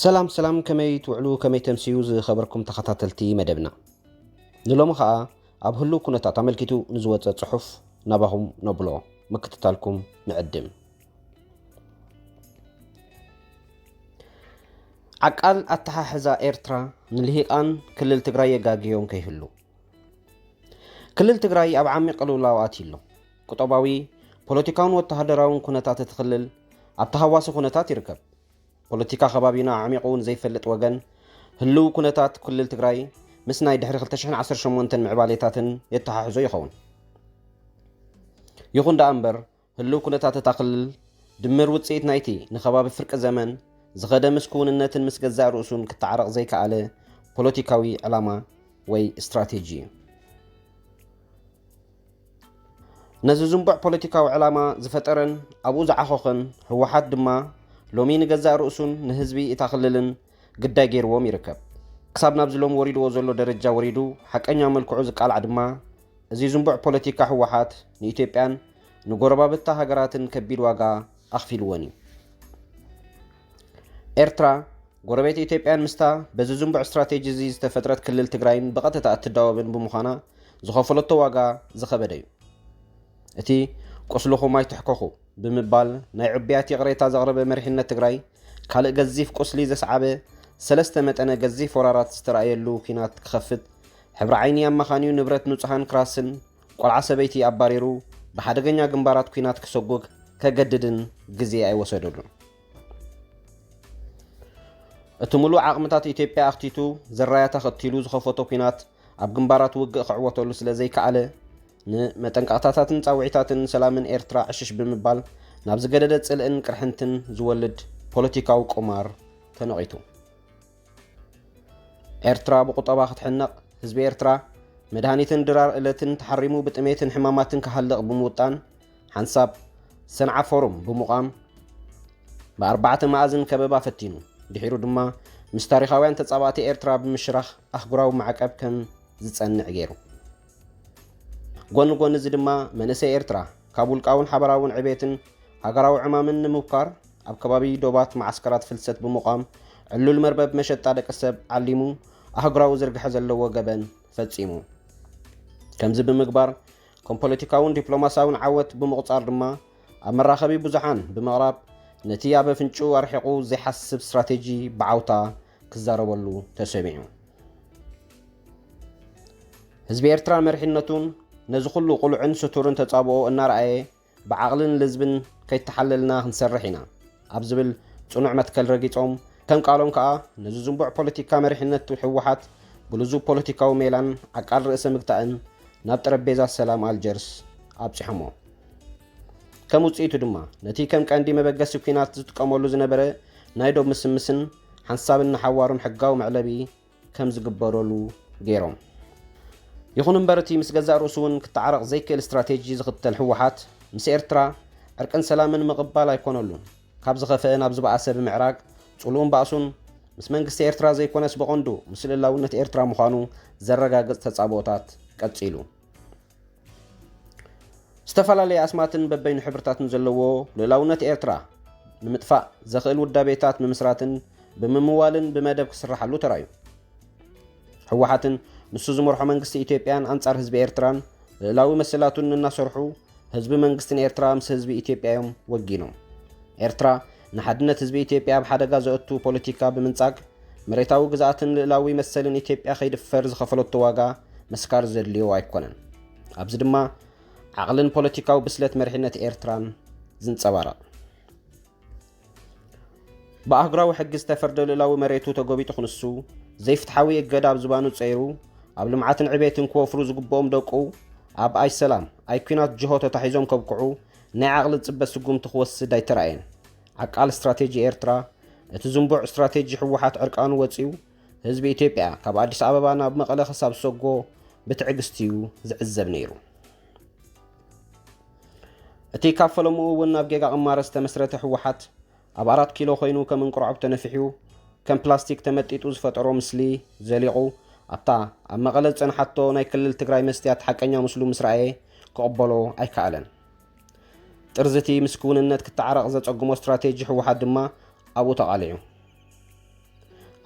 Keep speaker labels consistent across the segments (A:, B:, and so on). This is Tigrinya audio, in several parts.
A: ሰላም ሰላም ከመይ ትውዕሉ ከመይ ተምስዩ ዝኸበርኩም ተኸታተልቲ መደብና ንሎሚ ከዓ ኣብ ህሉ ኩነታት ኣመልኪቱ ንዝወፀ ፅሑፍ ናባኹም ነብሎ ምክትታልኩም ንዕድም ዓቃል ኣተሓሕዛ ኤርትራ ንልሂቃን ክልል ትግራይ የጋግዮም ከይህሉ ክልል ትግራይ ኣብ ዓሚቕ ቅልውላው ኣትዩ ኣሎ። ቁጠባዊ፣ ፖለቲካውን ወተሃደራውን ኩነታት እቲ ክልል ኣብ ተሃዋሲ ኩነታት ይርከብ። ፖለቲካ ከባቢና ኣዕሚቑ ንዘይፈልጥ ወገን ህልው ኩነታት ክልል ትግራይ ምስ ናይ ድሕሪ 2018 ምዕባሌታትን የተሓሕዞ ይኸውን። ይኹን ደኣ እምበር ህልው ኩነታት እታ ክልል፣ ድምር ውጽኢት ናይቲ ንከባቢ ፍርቂ ዘመን ዝኸደ ምስ ክውንነትን ምስ ገዛእ ርእሱን ክተዓረቕ ዘይከኣለ ፖለቲካዊ ዕላማ ወይ ስትራቴጂ እዩ። ነዚ ዝንቡዕ ፖለቲካዊ ዕላማ ዝፈጠረን ኣብኡ ዝዓኾኸን ህወሓት ድማ ሎሚ ንገዛእ ርእሱን ንህዝቢ እታ ክልልን ግዳይ ገይርዎም ይርከብ። ክሳብ ናብዚ ሎሚ ወሪድዎ ዘሎ ደረጃ ወሪዱ ሓቀኛ መልክዑ ዝቃላዕ ድማ እዚ ዝንቡዕ ፖለቲካ ህወሓት ንኢትዮጵያን ንጎረባብታ ሃገራትን ከቢድ ዋጋ ኣኽፊልወን እዩ። ኤርትራ ጎረቤት ኢትዮጵያን ምስታ በዚ ዝንቡዕ ስትራቴጂ እዚ ዝተፈጥረት ክልል ትግራይን ብቐጥታ እትዳወብን ብምዃና ዝኸፈለቶ ዋጋ ዝኸበደ እዩ። እቲ ቁስልኹም ኣይትሕከኹ ብምባል ናይ ዕቡያት ይቕሬታ ዘቕረበ መሪሕነት ትግራይ ካልእ ገዚፍ ቁስሊ ዘስዓበ ሰለስተ መጠነ ገዚፍ ወራራት ዝተራእየሉ ኲናት ክኸፍት ሕብሪ ዓይኒ ኣመኻንዩ ንብረት ንጹሃን ክራስን ቆልዓ ሰበይቲ ኣባሪሩ ብሓደገኛ ግንባራት ኲናት ክሰጉግ ከገድድን ግዜ ኣይወሰደሉን። እቲ ምሉእ ዓቕምታት ኢትዮጵያ ኣኽቲቱ ዘራያ ተኸቲሉ ዝኸፈቶ ኲናት ኣብ ግንባራት ውግእ ክዕወተሉ ስለ ዘይከኣለ ንመጠንቀቕታታትን ጻውዒታትን ሰላምን ኤርትራ ዕሽሽ ብምባል ናብ ዝገደደ ጽልእን ቅርሕንትን ዝወልድ ፖለቲካዊ ቁማር ተነቒቱ። ኤርትራ ብቑጠባ ክትሕነቕ፣ ህዝቢ ኤርትራ መድሃኒትን ድራር እለትን ተሓሪሙ ብጥሜትን ሕማማትን ክሃልቕ ብምውጣን ሓንሳብ ሰንዓ ፎሩም ብምቛም ብኣርባዕተ መኣዝን ከበባ ፈቲኑ። ድሒሩ ድማ ምስ ታሪኻውያን ተጻባእቲ ኤርትራ ብምሽራኽ ኣህጉራዊ ማዕቀብ ከም ዝጸንዕ ገይሩ። ጎኒ ጎኒ እዚ ድማ መንእሰይ ኤርትራ ካብ ውልቃውን ሓበራውን ዕቤትን ሃገራዊ ዕማምን ንምብኳር ኣብ ከባቢ ዶባት መዓስከራት ፍልሰት ብምቛም ዕሉል መርበብ መሸጣ ደቂ ሰብ ዓሊሙ ኣህጉራዊ ዝርግሐ ዘለዎ ገበን ፈጺሙ። ከምዚ ብምግባር ከም ፖለቲካውን ዲፕሎማስያውን ዓወት ብምቑጻር ድማ ኣብ መራኸቢ ብዙሓን ብምቕራብ ነቲ ኣብ ኣፍንጭኡ ኣርሒቑ ዘይሓስብ ስትራቴጂ ብዓውታ ክዛረበሉ ተሰሚዑ። ህዝቢ ኤርትራ መሪሕነቱን ነዚ ኩሉ ቁሉዕን ስቱርን ተጻብኦ እናረኣየ ብዓቕልን ልዝብን ከይተሓለልና ክንሰርሕ ኢና ኣብ ዝብል ፅኑዕ መትከል ረጊፆም ከም ቃሎም ከዓ ነዚ ዝንቡዕ ፖለቲካ መሪሕነት ህወሓት ብልዙብ ፖለቲካዊ ሜላን ዓቃል ርእሰ ምግታእን ናብ ጠረጴዛ ሰላም ኣልጀርስ ኣብፅሖሞ። ከም ውፅኢቱ ድማ ነቲ ከም ቀንዲ መበገሲ ኲናት ዝጥቀመሉ ዝነበረ ናይ ዶብ ምስምስን ሓንሳብን ንሓዋሩን ሕጋዊ መዕለቢ ከም ዝግበረሉ ገይሮም። ይኹን እምበር እቲ ምስ ገዛእ ርእሱ እውን ክተዓረቕ ዘይክእል ስትራቴጂ ዝኽተል ህወሓት ምስ ኤርትራ ዕርቅን ሰላምን ምቕባል ኣይኮነሉን። ካብ ዝኸፈአ ናብ ዝበኣሰ ብምዕራግ ጽልኡን ባእሱን ምስ መንግስቲ ኤርትራ ዘይኮነስ ብቐንዱ ምስ ልእላውነት ኤርትራ ምዃኑ ዘረጋግጽ ተጻብኦታት ቀጺሉ። ዝተፈላለየ ኣስማትን በበይኑ ሕብርታትን ዘለዎ ልእላውነት ኤርትራ ንምጥፋእ ዘኽእል ውዳቤታት ምምስራትን ብምምዋልን ብመደብ ክስራሓሉ ተራእዩ ህወሓትን ንሱ ዝመርሖ መንግስቲ ኢትዮጵያን ኣንጻር ህዝቢ ኤርትራን ልእላዊ መሰላቱን እናሰርሑ ህዝቢ መንግስትን ኤርትራ ምስ ህዝቢ ኢትዮጵያ እዮም ወጊኖም ኤርትራ ንሓድነት ህዝቢ ኢትዮጵያ ኣብ ሓደጋ ዘእቱ ፖለቲካ ብምንጻግ፣ መሬታዊ ግዝኣትን ልእላዊ መሰልን ኢትዮጵያ ከይድፈር ዝኸፈለቶ ዋጋ ምስካር ዘድልዮ ኣይኮነን። ኣብዚ ድማ ዓቕልን ፖለቲካዊ ብስለት መሪሕነት ኤርትራን ዝንጸባረቕ። ብኣህጉራዊ ሕጊ ዝተፈርደ ልእላዊ መሬቱ ተጎቢጡ ክንሱ፣ ዘይፍትሓዊ እገዳ ኣብ ዝባኑ ጸይሩ፣ ኣብ ልምዓትን ዕቤትን ክወፍሩ ዝግብኦም ደቁ፣ ኣብ ኣይሰላም ኣይኲናት ጅሆ ተታሒዞም ከብቅዑ፣ ናይ ዓቕሊ ጽበት ስጉምቲ ክወስድ ኣይተራእየን። ዓቃል ስትራቴጂ ኤርትራ፣ እቲ ዝንቡዕ ስትራቴጂ ህወሓት ዕርቃኑ ወጺኡ፣ ህዝቢ ኢትዮጵያ ካብ ኣዲስ ኣበባ ናብ መቐለ ክሳብ ዝሰጎ ብትዕግስቲ'ዩ ዝዕዘብ ነይሩ። እቲ ካብ ፈለምኡ እውን ናብ ጌጋ ቅማረ ዝተመስረተ ህወሓት፣ ኣብ ኣራት ኪሎ ኮይኑ ከም እንቁርዖብ ተነፊሑ ከም ፕላስቲክ ተመጢጡ ዝፈጠሮ ምስሊ ዘሊቑ ኣብታ ኣብ መቐለ ዝጸንሓቶ ናይ ክልል ትግራይ መስትያት ሓቀኛ ምስሉ ምስ ረኣየ ክቕበሎ ኣይከኣለን። ጥርዚ እቲ ምስ ክውንነት ክተዓረቕ ዘጸግሞ ስትራቴጂ ህወሓት ድማ ኣብኡ ተቓሊዑ።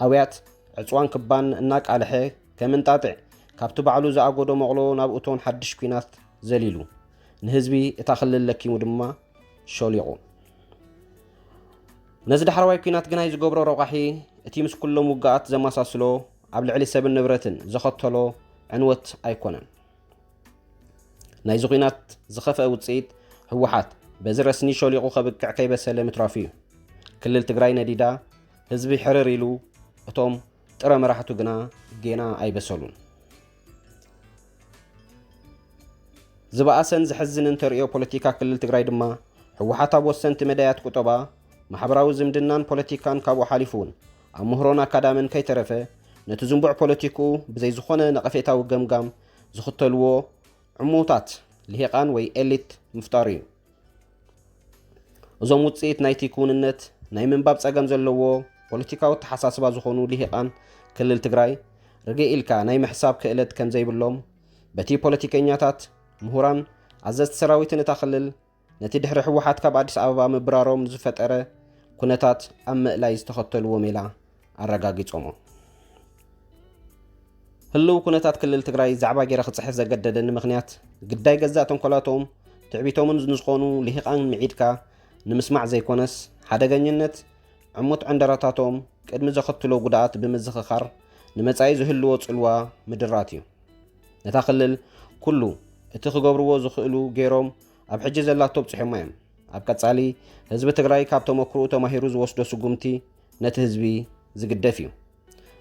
A: ኣውያት ዕፅዋን ክባን እናቃልሐ ከም እንጣጢዕ ካብቲ ባዕሉ ዝኣጎዶ መቕሎ ናብ እቶን ሓድሽ ኲናት ዘሊሉ ንህዝቢ እታ ክልል ለኪሙ ድማ ሾሊቑ። ነዚ ዳሕረዋይ ኲናት ግናይ ዝገብሮ ረቋሒ እቲ ምስ ኩሎም ውግኣት ዘመሳስሎ ኣብ ልዕሊ ሰብን ንብረትን ዘኸተሎ ዕንወት ኣይኮነን። ናይዚ ኲናት ዝኸፍአ ውፅኢት ህወሓት በዚ ረስኒ ሾሊቑ ከብቅዕ ከይበሰለ ምትራፉ እዩ። ክልል ትግራይ ነዲዳ፣ ህዝቢ ሕርር ኢሉ፣ እቶም ጥረ መራሕቱ ግና ጌና ኣይበሰሉን። ዝበኣሰን ዘሕዝንን ተርእዮ ፖለቲካ ክልል ትግራይ ድማ ህወሓት ኣብ ወሰንቲ መዳያት ቁጠባ፣ ማሕበራዊ ዝምድናን ፖለቲካን ካብኡ ሓሊፉ እውን ኣብ ምህሮን ኣካዳምን ከይተረፈ ነቲ ዝንቡዕ ፖለቲክኡ ብዘይ ዝኾነ ነቐፌታዊ ገምጋም ዝኽተልዎ ዕሙታት ልሂቓን ወይ ኤሊት ምፍጣሩ እዩ። እዞም ውፅኢት ናይቲ ክውንነት ናይ ምንባብ ጸገም ዘለዎ ፖለቲካዊ ተሓሳስባ ዝኾኑ ልሂቃን ክልል ትግራይ ርግእ ኢልካ ናይ ምሕሳብ ክእለት ከም ዘይብሎም በቲ ፖለቲከኛታት፣ ምሁራን፣ ኣዘዝቲ ሰራዊትን እታ ክልል ነቲ ድሕሪ ህወሓት ካብ ኣዲስ ኣበባ ምብራሮም ዝፈጠረ ኩነታት ኣብ ምእላይ ዝተኸተልዎ ሜላ ኣረጋጊጾሞ። ህልው ኩነታት ክልል ትግራይ ዛዕባ ገይረ ክጽሕፍ ዘገደደኒ ምክንያት ግዳይ ገዛእ ተንኮላቶም ትዕቢቶምን ንዝኾኑ ልሂቃን ምዒድካ ንምስማዕ ዘይኮነስ ሓደገኝነት ዕሙት ዕንደራታቶም ቅድሚ ዘኸትሎ ጉድኣት ብምዝኽኻር ንመጻኢ ዝህልዎ ጽልዋ ምድራት እዩ ነታ ክልል ኩሉ እቲ ክገብርዎ ዝኽእሉ ገይሮም ኣብ ሕጂ ዘላቶ ኣብጽሖማ እዮም ኣብ ቀጻሊ ህዝቢ ትግራይ ካብ ተመክርኡ ተማሂሩ ዝወስዶ ስጉምቲ ነቲ ህዝቢ ዝግደፍ እዩ።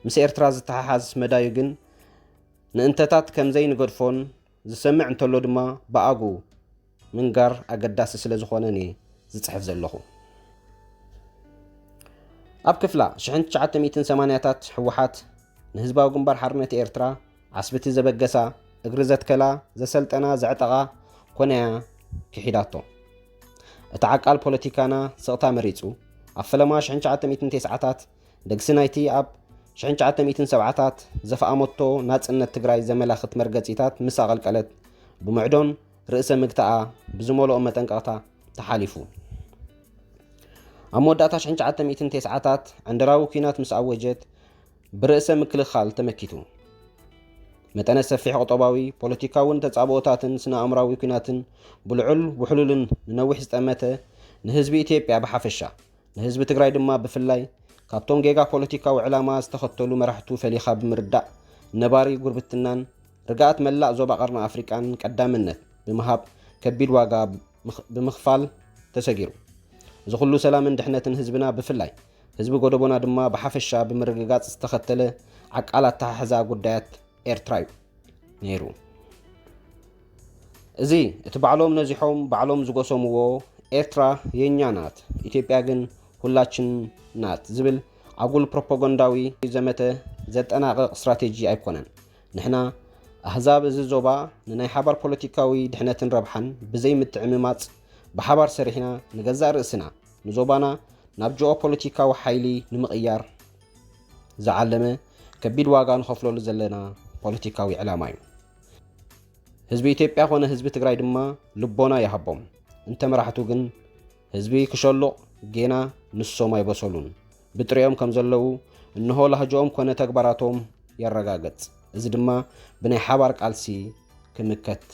A: ምስ ኤርትራ ዝተሓሓዝ መዳዩ ግን ንእንተታት ከምዘይንገድፎን ዝሰምዕ እንተሎ ድማ ብኣጉ ምንጋር ኣገዳሲ ስለ ዝኾነን እየ ዝጽሕፍ ዘለኹ። ኣብ ክፍላ 1980ታት ሕወሓት ንህዝባዊ ግንባር ሓርነት ኤርትራ ዓስብቲ ዘበገሳ እግሪ ዘትከላ ዘሰልጠና ዘዕጠቓ ኮነያ ክሒዳቶ። እቲ ዓቃል ፖለቲካና ስቕታ መሪጹ፣ ኣብ ፈለማ ሽሕን ትሽዓተ ሚእትን ቴስዓታት ደግሲ ናይቲ ኣብ ሽሕን ትሽዓተ ሚእትን ሰብዓታት ዘፍኣመቶ ናጽነት ትግራይ ዘመላኽት መርገጺታት ምስ ኣቐልቀለት ብምዕዶን ርእሰ ምግታኣ ብዝመልኦ መጠንቀቕታ ተሓሊፉ። ኣብ መወዳእታ ሽሕን ትሽዓተ ሚእትን ቴስዓታት ዕንደራዊ ኲናት ምስ ኣወጀት፣ ብርእሰ ምክልኻል ተመኪቱ መጠነ ሰፊሕ ቁጠባዊ፣ ፖለቲካውን ተጻብኦታትን ስነ ኣእምራዊ ኩናትን ብልዑል ውሕሉልን ንነዊሕ ዝጠመተ ንህዝቢ ኢትዮጵያ ብሓፈሻ ንህዝቢ ትግራይ ድማ ብፍላይ ካብቶም ጌጋ ፖለቲካዊ ዕላማ ዝተኸተሉ መራሕቱ ፈሊኻ ብምርዳእ ነባሪ ጉርብትናን ርግኣት መላእ ዞባ ቀርኒ ኣፍሪቃን ቀዳምነት ብምሃብ ከቢድ ዋጋ ብምክፋል ተሰጊሩ እዚ ኩሉ ሰላምን ድሕነትን ህዝብና ብፍላይ ህዝቢ ጎደቦና ድማ ብሓፈሻ ብምርግጋጽ ዝተኸተለ ዓቃል ኣተሓሕዛ ጉዳያት ኤርትራ እዩ ነይሩ። እዚ እቲ ባዕሎም ነዚሖም ባዕሎም ዝጎሰምዎ ኤርትራ የኛ ናት ኢትዮጵያ ግን ሁላችን ናት ዝብል ኣጉል ፕሮፓጋንዳዊ ዘመተ ዘጠናቕቕ ስትራቴጂ ኣይኮነን። ንሕና ኣህዛብ እዚ ዞባ ንናይ ሓባር ፖለቲካዊ ድሕነትን ረብሓን ብዘይ ምትዕምማጽ ብሓባር ሰሪሕና ንገዛእ ርእስና ንዞባና ናብ ጂኦ ፖለቲካዊ ሓይሊ ንምቕያር ዝዓለመ ከቢድ ዋጋ ንኸፍለሉ ዘለና ፖለቲካዊ ዕላማ እዩ። ህዝቢ ኢትዮጵያ ኮነ ህዝቢ ትግራይ ድማ ልቦና ይሃቦም እንተ መራሕቱ ግን ህዝቢ ክሸሉቕ ጌና ንሶም ኣይበሰሉን ብጥሪኦም ከም ዘለዉ እንሆ ላህጅኦም ኮነ ተግባራቶም የረጋገጽ። እዚ ድማ ብናይ ሓባር ቃልሲ ክምከት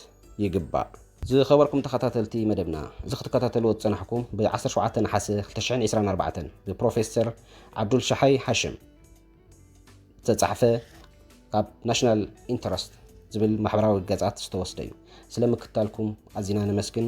A: ይግባእ። ዝኸበርኩም ተኸታተልቲ መደብና፣ እዚ ክትከታተልዎ ዝጸናሕኩም ብ ዓሰርተ ሸውዓተ ነሓሰ ክልተ ሽሕን ዒስራን ኣርባዕተን ብፕሮፌሰር ዓብዱልሸሓይ ሃሽም ዝተጻሕፈ ካብ ናሽናል ኢንተረስት ዝብል ማሕበራዊ ገጻት ዝተወስደ እዩ። ስለ ምክትታልኩም ኣዚና ነመስግን።